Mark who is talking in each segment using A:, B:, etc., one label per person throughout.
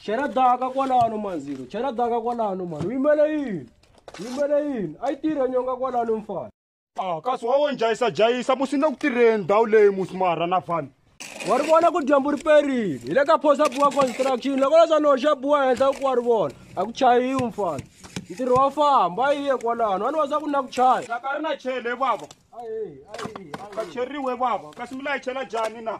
A: chela daka kwalano manzilo chela daka kwalano mani uyimele yini uyimele yini ayi tirhe nyonga kwalano mfana a kasi wa wo
B: njhayisajhayisa musi ni le ku tirheni ndhawu leyi musi marha na vanhu wa ri vona ku
A: dyambu ri perile hi le ka phosa buwa construction loko leswa ni hoxa buwa henhla ku wa ri vona a ku chayiwi mfana ntirho wa famba yi ye kwalano wa ni wa swa ku na ku chaya laka ri na chele
B: baba ka cheriwe baba kasi mi layichela jani na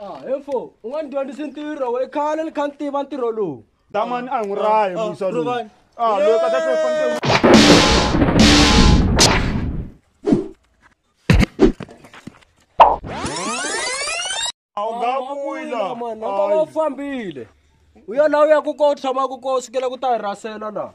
C: a hefo
A: u nga ni dyondzisi ntirho we khale ni kha ni tiva ntirho lowu damani a hi n'wi rahi
B: musa lowu Rhuvani. a loyi ka ta se fanele
A: a wu nga vuyi laha mani a nga va u fambile u ya laha u yaku ko u tshamaku ko u sukela ku ta hi rasela laha